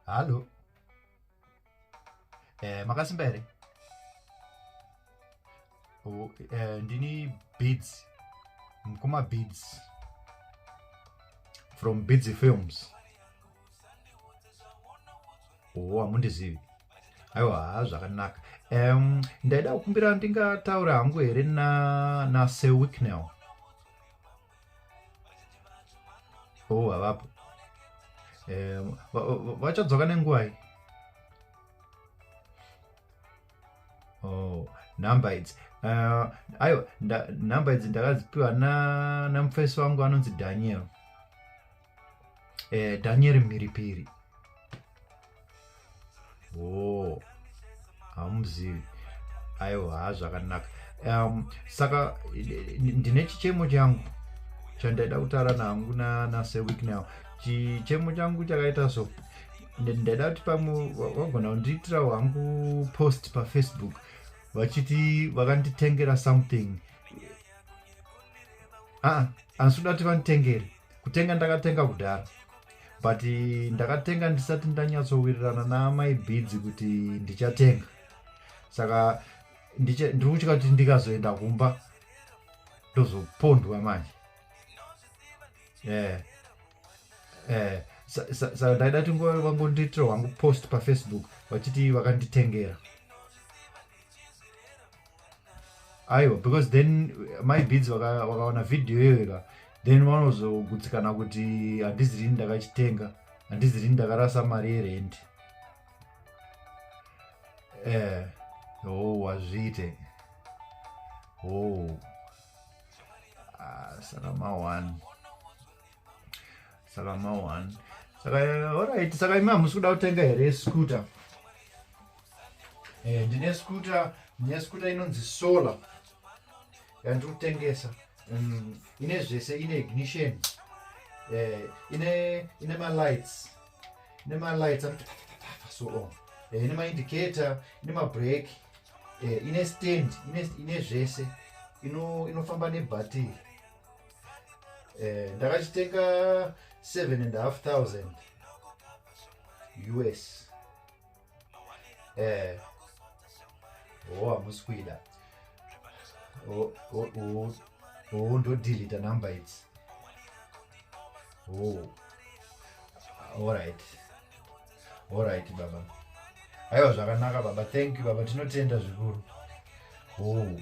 Halo. Eh, makasimba here? Oh, eh, ndini Beads. Mkoma Beads. From Beads Films. oo oh, hamundizivi aiwa haa zvakanaka um, ndaida kukumbira ndingataura hangu here nasir na wicknell o oh, havapo um, vachadzoka nenguvai o oh, number idzi uh, aiwa number idzi ndakadzipiwa namufesi na wangu anonzi daniel eh, danieri mhiripiri o oh, hamuzivi aiwa ha zvakanaka um, saka ndine chichemo changu chandaida kutaura nangu naseweek now chichemo changu chakaita so ndaida kuti pamwe vagona kundiitira wangu post pafacebook vachiti vakanditengera something aa ah, asi uda kuti vanditengere kutenga ndakatenga kudhara but ndakatenga ndisati ndanyatsowirirana naamai bidzi kuti ndichatenga saka ndiri kutya kuti ndikazoenda kumba ndozopondwa manje eh, eh, saka ndaida kuti nguva vangondiitira wangu post pafacebook vachiti vakanditengera aiwa because then mai beads vakaona vhidhiyo iyoyeka then vanozogutsikana kuti handizi rini ndakachitenga handizi rini ndakarasa mari yerendi eh oh wazviite oh ah, sana ma one saka ma one saka alright saka imi hamusi kuda kutenga here scooter eh, ndine scooter ndine scooter inonzi solar yandiri kutengesa mm, ine zvese ine ignition eh, ine ine malights ine malights anoti so on eh, ine maindicator ine mabreak eh, ine stand ine, ine zvese inofamba ino nebhatiri eh, ndakachitenga 7 and half thousand us eh, o oh, hamusi kuida o oh, oh, oh, ndodilita number idzi oh. allright allright baba aiwa zvakanaka baba thank you baba tinotenda zvikuru oh.